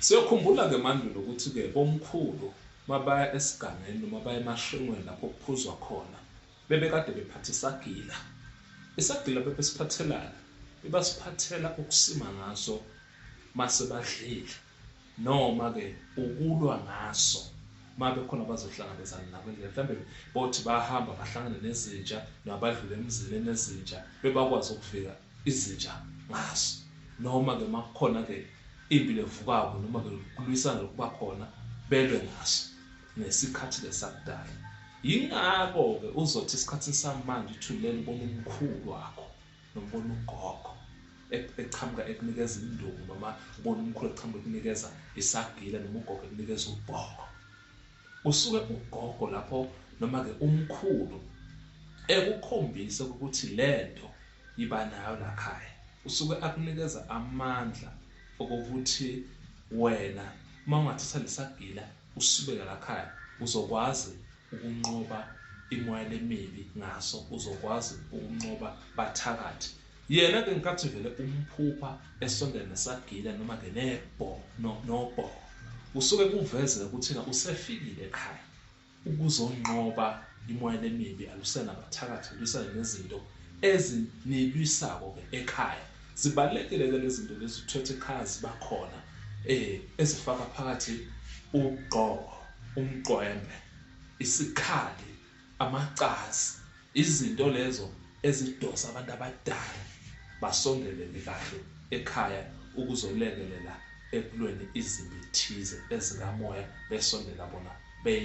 Siyokhumbula ke mandulo ukuthi ke bomkhulu mabaya esigangeni noma baya emashengweni lapho kuphuzwa khona bebekade bephatha isagila. Isagila bebesiphathelani? Bebasiphathela ukusima ngaso mase badlile noma ke ukulwa ngaso mabe khona bazohlangabezana nabo endlela mhlambe bothi bahamba bahlangane nezinja nabadlule emzini enezinja bebakwazi ukuvika izinja ngaso noma ke makukhona ke impi levukako noma ke kulwisana lokuba khona belwe ngaso ngesikhathi ke sakudala yingakho ke uzothi esikhathini samanje uthulela ubona umkhulu wakho nobona ugogo eqhamuka ekunikeza induku noma ubona umkhulu eqhamuka ekunikeza isagila noma ugogo ekunikeza ubhoko usuke ugogo lapho noma ke umkhulu ekukhombise ukuthi lento Yiba nayo lakhaya. Usuke akunikeza amandla okokuthi wena uma ungathatha lesagila usibeke lakhaya uzokwazi ukunqoba imoya lemibi ngaso uzokwazi ukunqoba bathakathi. Yena ke nkathi vele umphupha esondela nesagila noma ke nebho no nobho. Usuke kuvezela ukuthi usefikile ekhaya. Ukuzonqoba imoya lemibi alusenabathakathi lwisane nezinto ezinilwisako ke ekhaya. Zibalulekile ke lezinto lezi uthwethe ekhaya zibakhona eh ezifaka phakathi ugqoko, umqwembe, isikhali, amacazi, izinto lezo ezidosa abantu abadala basondelele kahle ekhaya ukuzolekelela ekulweni izimbi thize ezikamoya besondela bona be